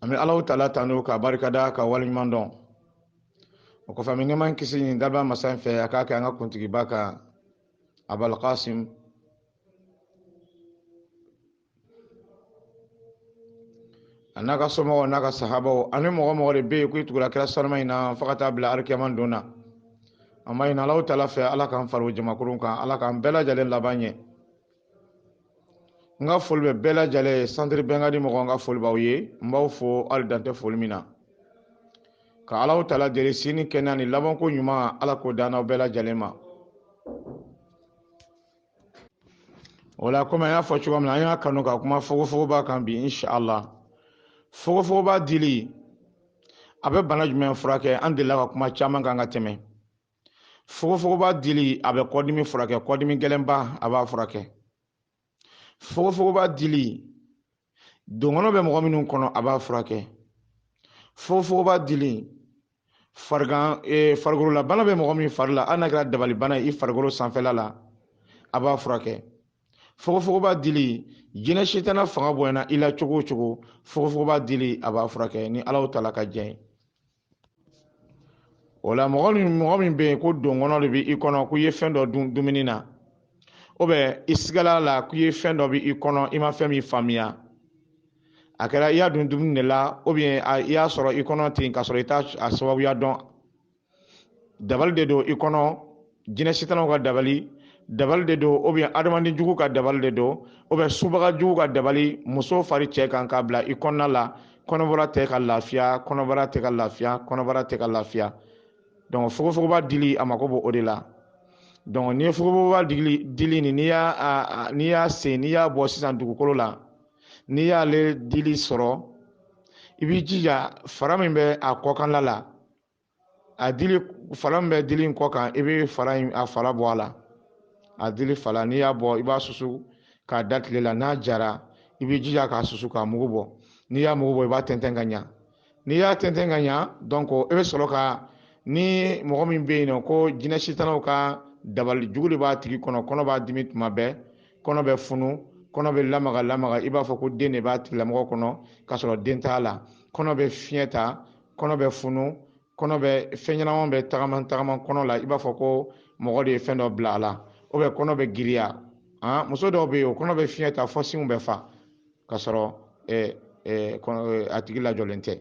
an bɛ alahu taala tanu k'a barikada k'a waleɲuman dɔn o kɔfɛ an bɛ nɛɛma kisi ɲini daba masa in fɛ a k'a kɛ an ka kuntigiba kan abul kasim a n'a ka somɔgɔw n'a ka sahabaw ani mɔgɔ mɔgɔ de bɛ yen k'i tugula kira sanuma in na fo ka taa bila arikiyama don na an b'a ɲini alahu taala fɛ ala k'an fara jamakulu kan ala k'an bɛɛ lajɛlen laban ɲɛ n ka foli bɛ bɛɛ lajɛlen ye santiri bɛnkadi mɔgɔw n ka foli b'aw ye n b'aw fo hali dan tɛ foli min na ka alahu taala deli si ni kɛnɛya ni labanko ɲuman ala k'o d'an n'aw bɛɛ lajɛlen ma o la komi an y'a fɔ cogoya min na an y'a kanu ka kuma fogofogoba kan bi inshala fogofogoba dili a bɛ bana jumɛn furakɛ an delila ka kuma caman kan ka tɛmɛ fogofogoba dili a bɛ kɔdimi furakɛ kɔdimi gɛlɛnba a b'a furakɛ fogofogoba dili donkɔnɔ bɛ mɔgɔ minnu kɔnɔ a b'a furakɛ fogofogoba dili farigan ee farikololabana bɛ mɔgɔ min fari la hali n'a kɛra dabalibana ye i farikolo sanfɛla la a b'a furakɛ fogofogoba dili jinɛ sitana fanga bonyana i la cogo o cogo fogofogoba dili a b'a furakɛ ni alahu taala ka jɛn ye o la mɔgɔ min mɔgɔ min bɛ yen ko donkɔnɔ de bɛ i kɔnɔ ko i ye fɛn dɔ dun dumuni na ou bien i sigala a la ko i ye fɛn dɔ bɛ i kɔnɔ i ma fɛn min faamuya a kɛra i y'a dun dumuni de la ou bien i y'a sɔrɔ i kɔnɔ ten k'a sɔrɔ i t'a a sababuya dɔn dabali de don i kɔnɔ jinɛ sitanaw ka dabali dabali de don ou bien adamaden jugu ka dabali de don ou bien subaga jugu ka dabali muso fara cɛ kan k'a bila i kɔnɔna la kɔnɔbara tɛ ka lafiya kɔnɔbara tɛ ka lafiya kɔnɔbara tɛ ka lafiya donc fogofogoba dili a mako b'o o de la donc n'i ye fogofogoba dili dili nin n'i y'a n'i y'a sen n'i y'a bɔ sisan dugukolo la n'i y'ale dili sɔrɔ i b'i jija fara min bɛ a kɔkanla la a dili fara min bɛ dili in kɔ kan i bɛ fara in a fara bɔ a la a dili fara n'i y'a bɔ i b'a susu k'a da tile la n'a jara i b'i jija k'a susu k'a mugu bɔ n'i y'a mugu bɔ i b'a tɛntɛn ka ɲa n'i y'a tɛntɛn ka ɲa donc i bɛ sɔrɔ ka ni mɔgɔ min bɛ yen nɔ ko jinɛ sitanaw ka dabali jugu de b'a tigi kɔnɔ kɔnɔ b'a dimi tuma bɛɛ kɔnɔ bɛ funu kɔnɔ bɛ lamaga lamaga i b'a fɔ ko den de b'a tigilamɔgɔ kɔnɔ k'a sɔrɔ den t'a la kɔnɔ bɛ fiɲɛ ta kɔnɔ bɛ funu kɔnɔ bɛ fɛn ɲɛnama bɛ tagama tagama kɔnɔ la i b'a fɔ ko mɔgɔ de ye fɛn dɔ bila a la ou bien kɔnɔ bɛ giriya han muso dɔw bɛ yen o kɔnɔ bɛ fiɲɛ ta fɔ sinw bɛ fa k'a sɔrɔ eh, eh, eh, a tigi lajɔlen tɛ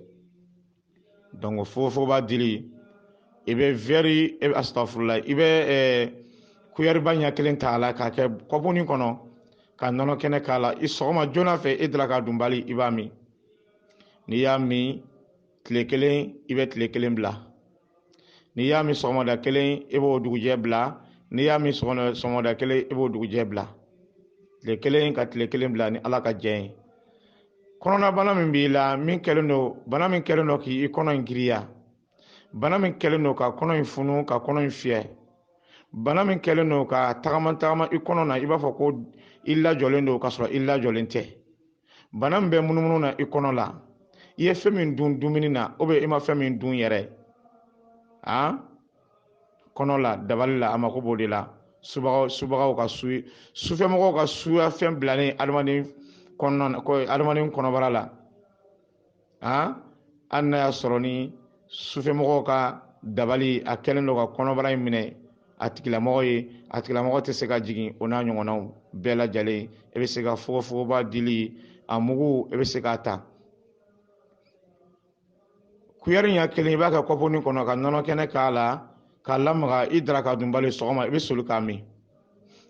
donc fogofogoba dili i bɛ vɛri asitafurula i bɛ kuyɛriba ɲɛ kelen ta a la k'a kɛ kɔpuni kɔnɔ ka nɔnɔ kɛnɛ k'a la i sɔgɔma joona fɛ i daraka dunbali i b'a min n'i y'a min tile kelen i bɛ tile kelen bila n'i y'a min sɔgɔmada kelen i b'o dugujɛ bila n'i y'a min sɔgɔmada kelen i b'o dugujɛ bila tile kelen ka tile kelen bila ni ala ka jɛn ye kɔnɔnabana min b'i la min kɛlen don bana min kɛlen don k'i kɔnɔ in giriya bana min kɛlen don ka kɔnɔ in funu ka kɔnɔ in fiyɛ bana min kɛlen don ka tagama tagama i kɔnɔ na i b'a fɔ ko i lajɔlen don ka sɔrɔ i lajɔlen tɛ bana min bɛ munumunu na i kɔnɔ la i ye fɛn min dun dumuni na ou bien i ma fɛn min dun yɛrɛ a kɔnɔ la dabali la a mako b'o de la subagaw subagaw ka su sufɛmɔgɔw ka suya fɛn bilalen adamaden kɔnɔna na ko adamaden kɔnɔbara la hali n'a y'a sɔrɔ ni sufɛmɔgɔw ka dabali a kɛlen don ka kɔnɔbara in minɛ a tigilamɔgɔ ye a tigilamɔgɔ tɛ se ka jigin o n'a ɲɔgɔnnaw bɛɛ lajɛlen i bɛ se ka fogofogoba dili a mugu i bɛ se k'a ta kuyɛri ɲɛ kelen i b'a kɛ kɔpuni kɔnɔ ka nɔnɔ kɛnɛ k'a la k'a lamaga i daraka dunbali sɔgɔma i bɛ soli k'a min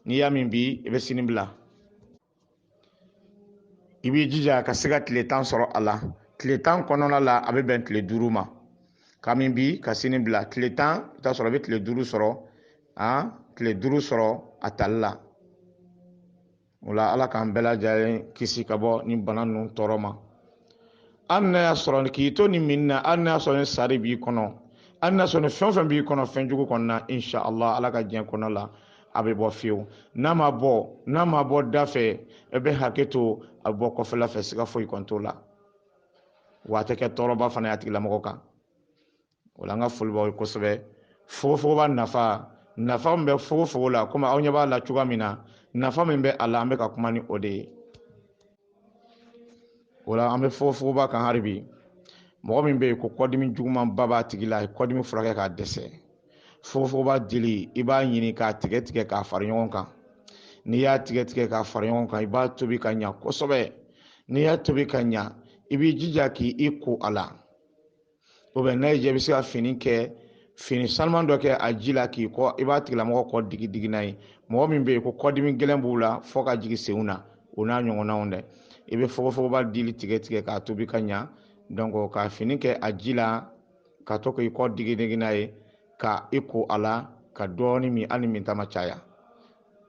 n'i y'a min bi i bɛ sini bila i b'i jija ka se ka tile tan sɔrɔ a la tile tan kɔnɔna la a bɛ bɛn tile duuru ma k'a min bi ka sini bila tile tan i t'a sɔrɔ i bɛ tile duuru sɔrɔ an tile duuru sɔrɔ a tali la o la ala k'an bɛɛ lajɛlen kisi ka bɔ nin bana ninnu tɔɔrɔ ma hali n'a y'a sɔrɔ k'i to nin min na hali n'a y'a sɔrɔ ni sari b'i kɔnɔ hali n'a y'a sɔrɔ ni fɛn o fɛn b'i kɔnɔ fɛn jugu kɔnɔna insha allah ala ka diɲɛ kɔnɔ la a bɛ bɔ fewu n'a ma bɔ n'a ma bɔ da fɛ e bɛ hakɛ to a bɛ bɔ kɔfɛla fɛ siga foyi kɔni t'o la wa a tɛ kɛ tɔɔrɔba fana ye a tigilamɔgɔ kan o la an ka foli b'aw ye kosɛbɛ fogofogoba nafa nafa min bɛ fogofogo la komi aw ɲɛ b'a la cogoya min na nafa min bɛ a la an bɛ ka kuma ni o de ye o la an bɛ fogofogoba kan hali bi mɔgɔ min bɛ yen ko kɔdimi jugumanba b'a tigi la a ye kɔdimi furakɛ k'a dɛsɛ fogofogoba dili i b'a ɲini k'a tigɛ tigɛ k'a fara ɲɔgɔn kan n'i y'a tigɛ tigɛ k'a fara ɲɔgɔn kan i b'a tobi ka ɲa kosɛbɛ n'i y'a tobi ka ɲa i b'i jija k'i ko a la ou bien i bɛ se ka fini kɛ fini sanuman dɔ kɛ a ji la k'i kɔ i b'a tigilamɔgɔ kɔ digi digi n'a ye mɔgɔ min bɛ yen ko kɔdimi gɛlɛn b'u la fɔ ka jigin senw na o n'a ɲɔgɔnnaw dɛ i bɛ fogofogoba dili tigɛ tigɛ k'a tobi ka ɲa donc ka fini kɛ a ji la ka to k'i kɔ digi digi n'a ye ka i ko a la ka dɔɔni min hali minta ma caya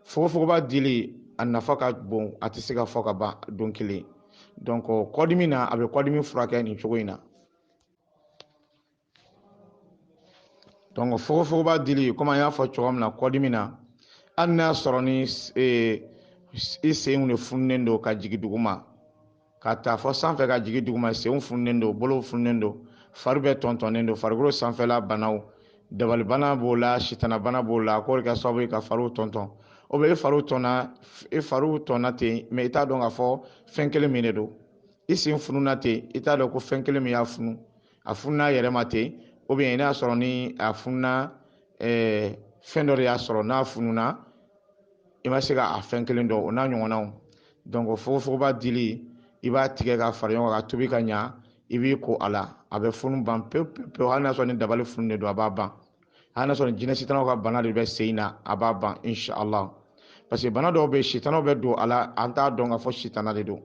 fogofogoba dili a nafa ka bon a tɛ se ka fɔ ka ban don kelen donc kɔdimi na a bɛ kɔdimi furakɛ nin cogo in na donc fogofogoba dili komi an y'a fɔ cogo min na kɔdimi na hali n'a y'a sɔrɔ ni i senw de fununen don ka jigin duguma ka taa fɔ sanfɛ ka jigin duguma senw fununen don bolow fununen don fari bɛɛ tɔntɔnnen don farikolo sanfɛla banaw dabalibana b'o la sitanabana b'o la k'o de kɛ sababu ye ka fariw tɔntɔn ou bien e fariw tɔnna ten mais i t'a dɔn k'a fɔ fɛn kelen min de don i sen fununa ten i t'a dɔn ko fɛn kelen min y'a funu a fununa a yɛrɛ ma ten ou bien n'a sɔrɔ ni a fununa eh, fɛn dɔ de y'a sɔrɔ n'a fununa i ma se ka a fɛn kelen dɔn o n'a ɲɔgɔnnaw donc fogofogoba dili i b'a tigɛ ka fara ɲɔgɔn kan ka tobi ka ɲa i b'i ko a la a bɛ funu ban pewu pewu hali n'a sɔrɔ ni dabali funu de don a b'a ban hali n'a sɔrɔ ni jinɛ sitanaw ka bana de bɛ sen in na a b'a ban inshallah parce que bana dɔw bɛ yen sitanaw bɛ don a la an t'a dɔn k'a fɔ sitana de don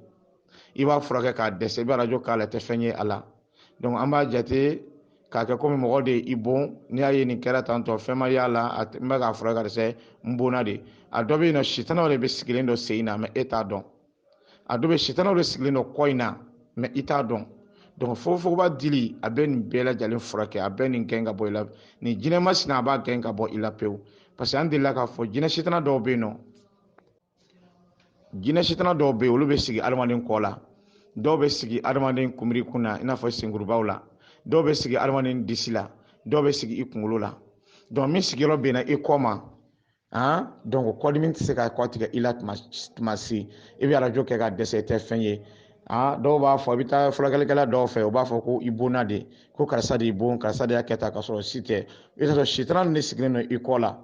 i b'a furakɛ ka dɛsɛ i bɛ arajo k'a la i tɛ fɛn ye a la donc an b'a jate k'a kɛ komi mɔgɔ de i bon n'i y'a ye nin kɛra tantɔ fɛn ma y'a la a n bɛ k'a furakɛ ka dɛsɛ n bonna de a dɔ bɛ yen nɔ sitanaw de bɛ sigilen dɔ sen in na mais e t'a dɔn a dɔ bɛ sitanaw de sigilen dɔ kɔ in na mais i t'a dɔn donc fogofogoba dili a bɛ nin bɛɛ lajɛlen furakɛ a bɛ nin gɛn ka bɔ i la nin jinɛ masina a b'a gɛn ka bɔ i la pewu parce que an delila k'a fɔ jinɛ sitana dɔw bɛ yen nɔ jinɛ sitana dɔw bɛ yen olu bɛ sigi adamaden kɔ la dɔw bɛ sigi adamaden kunbiri kun na i n'a fɔ senkurubaw la dɔw bɛ sigi adamaden disi la dɔw bɛ sigi i kunkolo la donc min sigiyɔrɔ bɛnna i kɔ ma han donc kɔdimi tɛ se ka kɔ tigɛ i la tuma si i bɛ arajo kɛ ka dɛsɛ i tɛ fɛn ye aa dɔw b'a fɔ i bɛ taa furakɛlikɛla dɔw fɛ u b'a fɔ ko i bonna de ko karisa de y'i bon karisa de y'a kɛ tan ka sɔrɔ si tɛ i bɛ t'a sɔrɔ sitana de sigilen don i kɔ la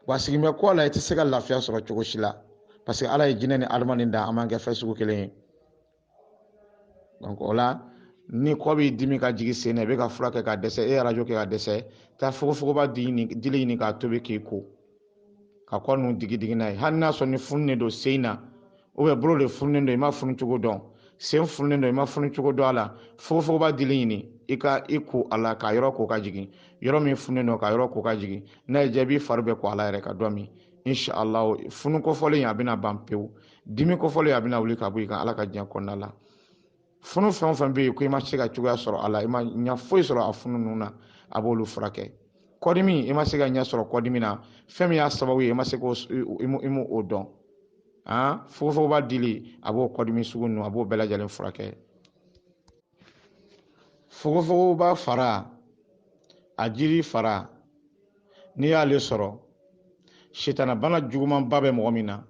wa sigilen bɛ kɔ la i tɛ se ka lafiya sɔrɔ cogo si la parce que ala ye jinɛ ni adamaden da an man kɛ fɛn sugu kelen ye donc o la ni kɔ b'i dimi ka jigin sen na i bɛ k'a furakɛ ka dɛsɛ e ye arajo kɛ ka dɛsɛ taa fogofogoba dili ɲini k'a tobi k'i ko ka kɔ ninnu digi digi n'a ye hali n'a sɔrɔ ni fununen don sen na ou bien bolo de fununen don i ma funu cogo dɔn sen fununen don i ma funu cogo dɔn a la fogofogoba dili ɲini i k'i ko a la k'a yɔrɔ ko ka jigin yɔrɔ min fununen don k'a yɔrɔ ko ka jigin n'a y'i diya i b'i fari bɛɛ ko a la yɛrɛ ka dɔ min inshallah funu kofɔlen a bɛna ban pewu dimi kofɔlen a bɛna wuli ka bɔ i kan ala ka diɲɛ kɔnɔna la funu fɛn o fɛn bɛ yen ko i ma se ka cogoya sɔrɔ a la i ma ɲɛ foyi sɔrɔ a funu ninnu na a b'olu furakɛ kɔdimi i ma se ka ɲɛ sɔrɔ kɔdimi na fɛn min y'a sababu ye i ma se k'o i m'o dɔn an fogofogoba dili a b'o kɔdimi sugu ninnu a b'o bɛɛ lajɛlen furakɛ fogofogoba fara a jiri fara n'i y'ale sɔrɔ sitanabana jugumanba bɛ mɔgɔ min na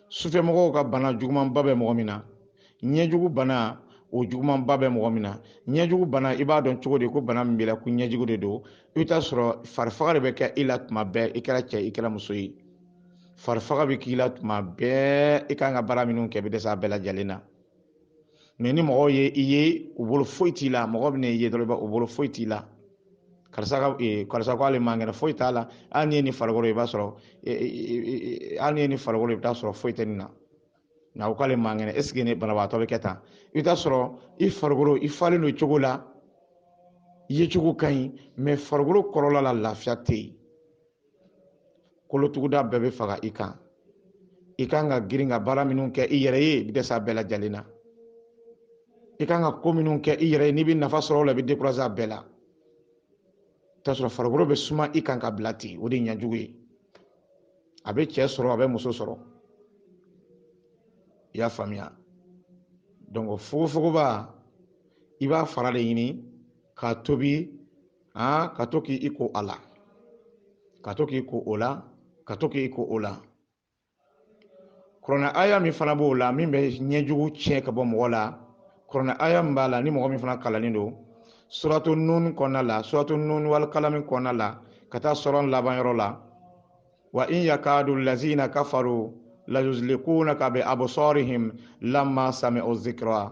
sufɛmɔgɔw ka bana jugumanba bɛ mɔgɔ min na ɲɛjugu bana o jugumanba bɛ mɔgɔ min na ɲɛjugu bana i b'a dɔn cogo di ko bana min b'i la ko ɲɛjugu de don i bɛ t'a sɔrɔ farifaga de bɛ kɛ i la tuma bɛɛ i kɛra cɛ i kɛra muso ye farifaga bɛ k'i la tuma bɛɛ i kan ka baara minnu kɛ i bɛ dɛsɛ a bɛɛ lajɛlen na mais ni mɔgɔw ye i ye u bolo foyi t'i la mɔgɔ bɛna i ye dɔrɔn u bolo foyi t'i la karisa ka eh, karisa ko ale man kɛnɛ foyi t'a la hali n'i ye nin farikolo i b'a sɔrɔ eh, eh, hali n'i ye nin farikolo i bɛ t'a sɔrɔ foyi tɛ nin na nka o k'ale man kɛnɛ est-ce que ni banabagatɔ bɛ kɛ tan i bɛ t'a sɔrɔ i farikolo i falen don cogo la i ye cogo ka ɲi mais farikolo kɔrɔla la lafiya tɛ yen kolotuguda bɛɛ bɛ faga i kan i kan ka girin ka baara minnu kɛ i yɛrɛ ye i bɛ dɛsɛ a bɛɛ lajɛlen na i kan ka ko minnu kɛ i yɛrɛ ye n'i bɛ nafa sɔrɔ o la i bɛ décourager a bɛɛ la t'a sɔrɔ farikolo bɛ suma i kan ka bila ten o de ye ɲɛjugu ye a bɛ cɛ sɔrɔ a bɛ muso sɔrɔ i y'a faamuya donc fogofogoba i b'a fara de ɲini k'a tobi aa ka to k'i ko a la ka to k'i ko o la ka to k'i ko o la kuranɛ aya min fana b'o la min bɛ ɲɛjugu tiɲɛ ka bɔ mɔgɔ la kuranɛ aya min b'a la ni mɔgɔ min fana kalannen don suratu nun kɔnɔna la suratu nun wal kalami kɔnɔna la ka taa sɔrɔ laban yɔrɔ la wa in yakadu lazina kafaru layuzlikunaka bi absarihim lamma sami'u zikra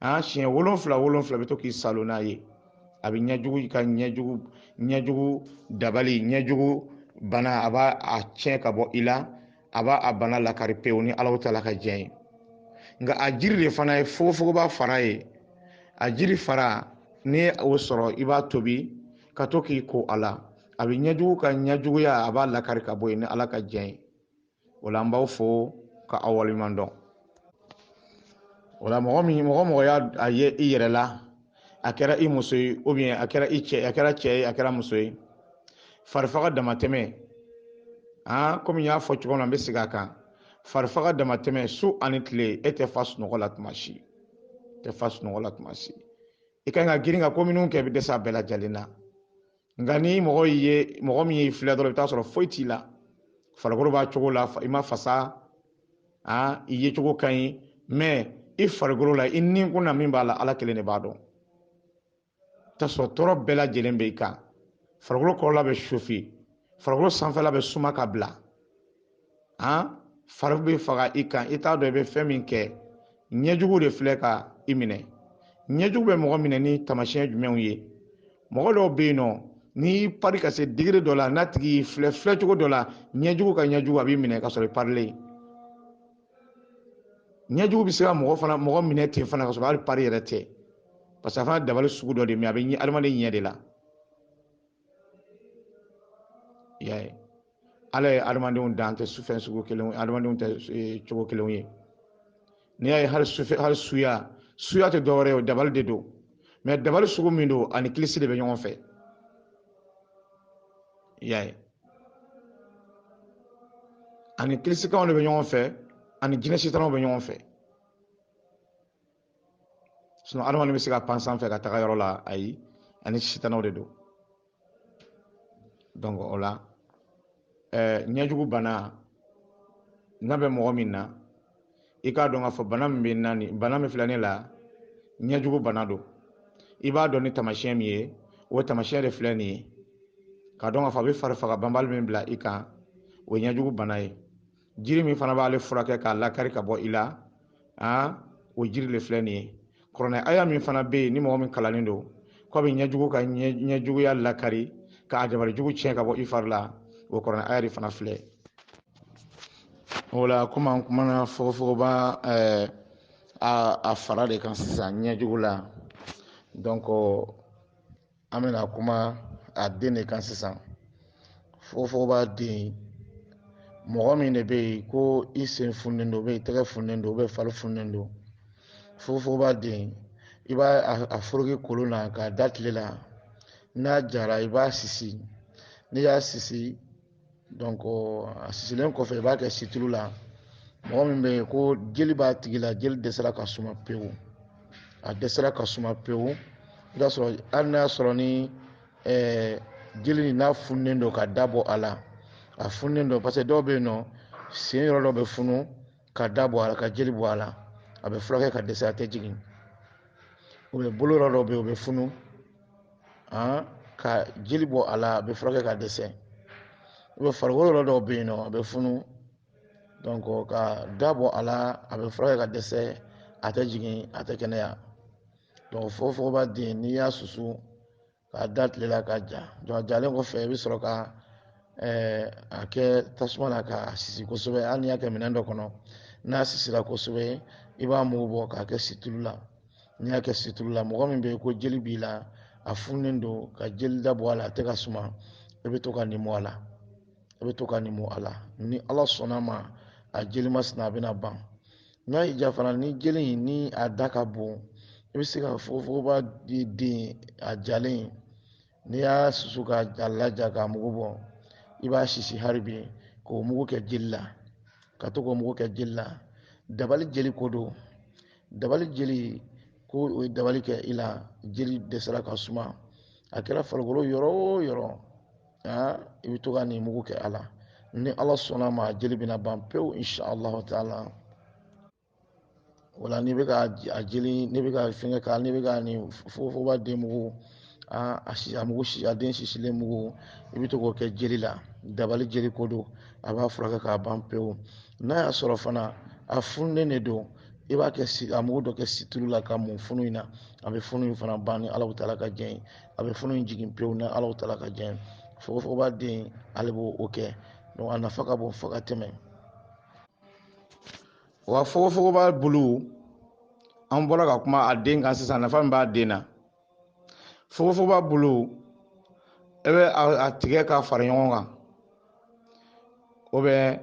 an siɲɛ wolonfila wolonfila i bɛ to k'i saalo n'a ye a bɛ ɲɛjugu ka ɲɛjugu ɲɛjugu dabali ɲɛjugu bana a b'a a tiɲɛ ka bɔ i la a b'a a bana lakari pewu ni ala taala ka diɲɛ ye nka a jiri de fana ye fogofogoba fara ye a jiri fara n'i ye o sɔrɔ i b'a tobi ka to k'i ko a la a bɛ ɲɛjugu ka ɲɛjuguya a b'a lakari ka bɔ yen ni ala ka diɲɛ ye o la an b'aw fo ka aw waleɲuman dɔn o la mɔgɔ min mɔgɔ mɔgɔ y'a a ye i yɛrɛ la a kɛra i muso ye ou bien a kɛra i cɛ a kɛra cɛ ye a kɛra muso ye farifaga damatɛmɛ an komi n y'a fɔ cogo min na n bɛ segin a kan farifaga damatɛmɛ su ani tile e tɛ fa sunɔgɔ la tuma si tɛ fa sunɔgɔ la tuma si i ka kan ka girin ka ko minnu kɛ i bɛ dɛsɛ a bɛɛ lajɛlen na nka ni mɔgɔ ye mɔgɔ min y'i filɛ dɔrɔn i bɛ t'a sɔrɔ foyi t'i la farikolo b'a cogo la i ma fasa i ye cogo ka ɲi mais i farikolo la i ni kun na min b'a la ala kelen de b'a dɔn t'a sɔrɔ tɔɔrɔ bɛɛ lajɛlen bɛ i kan farikolo kɔrɔla bɛ chauffer farikolo sanfɛla bɛ suma ka bila han fari bɛ faga i kan i t'a dɔn i bɛ fɛn min kɛ ɲɛjugu de filɛ ka i minɛ ɲɛjugu bɛ mɔgɔ minɛ ni taamasiyɛn jumɛnw ye mɔgɔ dɔw bɛ yen nɔ n'i y'i pari ka se degré dɔ la n'a tigi y'i filɛ filɛcogo dɔ la ɲɛjugu ka ɲɛjugu a b'i minɛ ka sɔrɔ i parilen ɲɛjugu bɛ se ka mɔgɔ fana mɔgɔ minɛ ten fana ka sɔrɔ hali pari yɛrɛ tɛ parce que a fana dabali sugu dɔ de mais a bɛ ɲɛ adamaden ɲɛ de la y'a ye ala ye adamadenw dan tɛ fɛn sugu kelen adamadenw tɛ e, cogo kelenw ye n'i y'a ye hali sufɛ hali suya suya tɛ dɔwɛrɛ ye o dabali de don mais dabali sugu min don ani kilisi de bɛ ɲɔgɔn fɛ y'a ye ani kilisikanw de bɛ ɲɔgɔn fɛ ani jinɛ sitanaw bɛ ɲɔgɔn fɛ sinon adamaden bɛ se ka pan sanfɛ ka taga yɔrɔ la ayi ani sitanaw de don donc o la eh, ɲɛjugu bana n'a bɛ mɔgɔ min na i k'a dɔn k'a fɔ bana min bɛ na ni bana min filɛ ne la ɲɛjugu bana don i b'a dɔn ni taamasiyɛn min ye o taamasiyɛn de filɛ nin ye k'a dɔn k'a fɔ a bɛ farifaga banbali min bila i kan o ye ɲɛjugu bana ye jiri min fana b'ale furakɛ k'a lakari ka bɔ i la a o jiri le filɛ nin ye kuranɛ aya min fana bɛ yen ni mɔgɔ min kalannen don k'a bɛ ɲɛjugu ka ɲɛjuguya lakari k'a dabali jugu tiɲɛ ka bɔ i fari la o kuranɛ aya de fana filɛ o la komi an kumana fogofogoba ɛɛ a fara de kan sisan ɲɛjugu la donc an bɛna kuma a den de kan sisan fogofogoba den mɔgɔ min de bɛ yen ko i sen fununen don ou bien i tɛgɛ fununen don ou bien fari fununen don fogofogoba den i b'a a foroki kolon na k'a da tile la n'a jara i b'a sisi n'i y'a sisi donc a sisilen kɔfɛ i b'a kɛ situlu la mɔgɔ min bɛ yen ko jeli b'a tigi la jeli dɛsɛra ka suma pewu a dɛsɛra ka suma pewu i b'a sɔrɔ hali n'a y'a sɔrɔ ni ɛɛ jeli nin n'a fununen don ka da bɔ a la a fununen don parce que dɔw bɛ yen nɔ sen yɔrɔ dɔ bɛ funu ka da bɔ a la ka jeli bɔ a la a bɛ furakɛ ka dɛsɛ a tɛ jigin ou bien bolo yɔrɔ dɔ bɛ yen o bɛ funu ka jeli bɔ a la a bɛ furakɛ ka dɛsɛ ou bien farikolo yɔrɔ dɔw bɛ yen nɔ a bɛ funu donc ka da bɔ a la a bɛ furakɛ ka dɛsɛ a tɛ jigin a tɛ kɛnɛya donc fogofogoba den n'i y'a susu k'a da tile la k'a ja donc a jalen kɔfɛ i bɛ sɔrɔ ka eh, a kɛ tasuma na k'a sisi kosɛbɛ hali n'i y'a kɛ minɛn dɔ kɔnɔ n'a sisira kosɛbɛ i b'a mugu bɔ k'a kɛ situlu la n'i y'a kɛ situlu la mɔgɔ min bɛ yen ko jeli b'i la a fununen don ka jeli da bɔ a la a tɛ ka suma i bɛ to ka nin mu a la ni ala sɔnna ma a jeli masina a bɛna ban n'a y'i ja fana ni jeli in ni a da ka bon i bɛ se ka fogofogoba di den a jalen n'i y'a susu ka a laja k'a mugu bɔ i b'a sisi hali bi k'o mugu kɛ jeli la ka to k'o mugu kɛ jeli la dabali jeli ko don dabali jeli ko u ye dabali kɛ i la jeli dɛsɛra ka suma a kɛra farikolo yɔrɔ o yɔrɔ aa i bɛ to ka nin mugu kɛ a la ni ala sɔnna ma jeli bɛna ban pewu inshallah taala wala n'i bɛ ka a jeli n'i bɛ ka fɛngɛ k'a n'i bɛ ka nin fogofogoba den mugu aa a si a mugu si a den sisilen mugu i bɛ to k'o kɛ jeli la dabali jeli ko don a b'a furakɛ k'a ban pewu n'a y'a sɔrɔ fana a fununen de don i b'a kɛ a mugu dɔ kɛ situlu la ka mun funu in na a bɛ funu in fana ban ni ala taala ka jɛn ye a bɛ funu in jigin pewu ni ala taala ka jɛn fogofogoba den ale b'o kɛ donc a nafa ka bon fo ka tɛmɛ wa fogofogoba bulu an bɔra ka kuma a den kan sisan nafa min b'a den na fogofogoba bulu e bɛ a tigɛ k'a fara ɲɔgɔn kan ou bien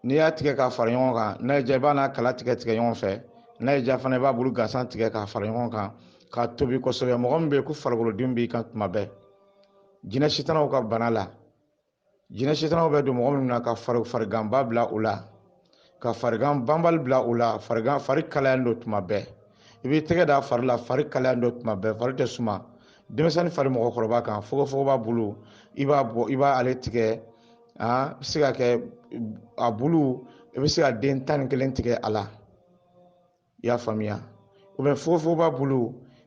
n'i y'a tigɛ k'a fara ɲɔgɔn kan n'a y'i ja i b'a n'a kala tigɛ tigɛ ɲɔgɔn fɛ n'a y'i ja fana i b'a bulu gansan tigɛ k'a fara ɲɔgɔn kan k'a tobi kosɛbɛ mɔgɔ min bɛ yen ko farikolodimi b'i kan tuma bɛɛ jinɛ sitanaw ka bana la jinɛ sitanaw bɛ don mɔgɔ min na ka fari fariganba bila u la ka farigan banbali bila u la farigan fari kalayalen don tuma bɛɛ i b'i tɛgɛ da fari la fari kalayalen don tuma bɛɛ fari tɛ suma denmisɛnnin fara mɔgɔkɔrɔba kan fogofogoba bulu i b'a bɔ i b'a ale tigɛ aa bɛ se ka kɛ a bulu i bɛ se ka den tan ni kelen tigɛ a la i y'a faamuya ou bien fogofogoba bulu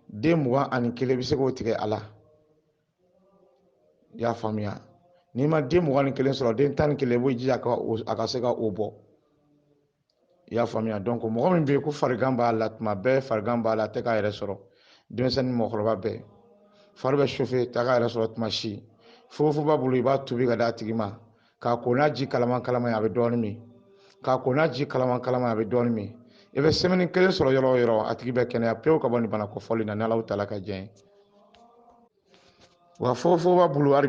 den mugan ani kelen bɛ se k'o tigɛ a la i y'a faamuya n'i ma den mugan ni kelen sɔrɔ den tan ni kelen i b'o jija a ka se ka o bɔ i y'a faamuya donc mɔgɔ min bɛ yen ko farigan b'a la tuma bɛɛ farigan b'a la a tɛ k'a yɛrɛ sɔrɔ denmisɛnnin mɔgɔkɔrɔba bɛɛ fari bɛ chauffer tɛ k'a yɛrɛ sɔrɔ tuma si fogofogoba bulu i b'a tobi ka d'a tigi ma k'a ko n'a ji kalaman kalaman ye a bɛ dɔɔnin min k'a ko n'a ji kalaman kalaman a bɛ dɔɔnin min i bɛ semaine kelen sɔrɔ yɔrɔ o yɔrɔ a tigi bɛ kɛnɛya pewu ka bɔ nin bana kofɔlen na n'alahu taala ka jɛn ye wa fogofogoba bulu hali bi